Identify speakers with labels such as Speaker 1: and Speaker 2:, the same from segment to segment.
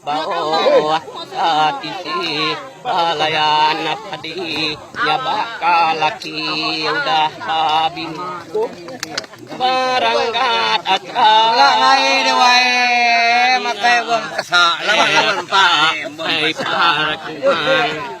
Speaker 1: Bauh ka tisi belayan padi nyabak ka laki udah ba bini berenggat aja ai
Speaker 2: par
Speaker 1: kumang.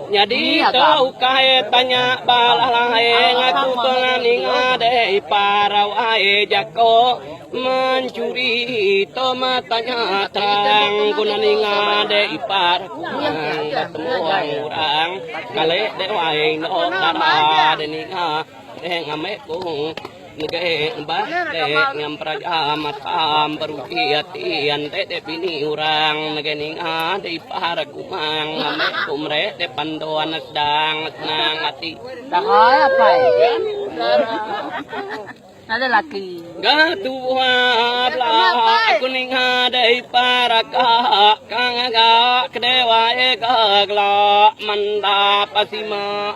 Speaker 1: Nyadi tu ukai tanya ba alah lain ngaku tengah ninga deh ipar awai jako mencuri tu meh tanya terang guna ninga deh ipar kurang betemuang orang kale deh wai eno dara deh ninga. Dek ngamai ku ngegai neba dek nyampra jam atam beruji ati an dek dek bini orang ngegai ninga dek ipar aku mang ngamai ku mere dek pando anak dang senang ati. Dahai
Speaker 3: apai. Ada laki. Ga tua
Speaker 1: bla aku ninga dek ipar aka kang ga kedewai ga gla manda pasima.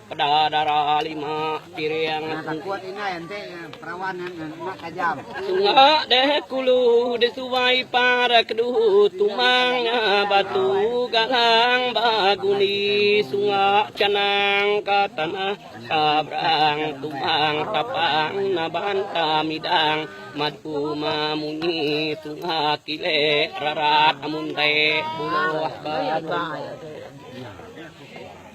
Speaker 1: Peda dara lima piring. Sunga
Speaker 2: de kulu
Speaker 1: de
Speaker 2: suai
Speaker 1: par kedu tumang batu galang ba gundi sunga canang ka tanah ka brang tumang tapang na banta midang mat uma munyi sunga kile rarat amun te buloh ba.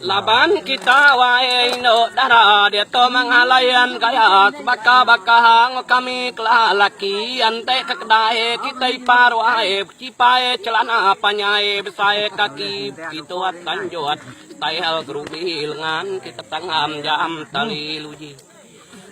Speaker 1: Laban kita wae indu dara ditu mengalayan gas baka baka hang kami kelah laki ante ke kedai kita ipar wae bechipai celana panyai besai kaki bechituat tanjut style gerubi lengan kita tanggam jam tali luji.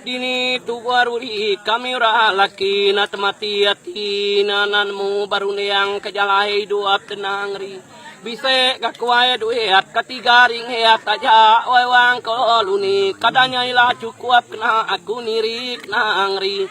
Speaker 1: Dini tuba rudi kami orang laki na temati ati na enda nemu berunding ke jalai idup tenang ri. Bisi ga ke wai duit ka tiga ringgit aja wai wang ko luni kada nya ila cukup kena aku niri kenang ri.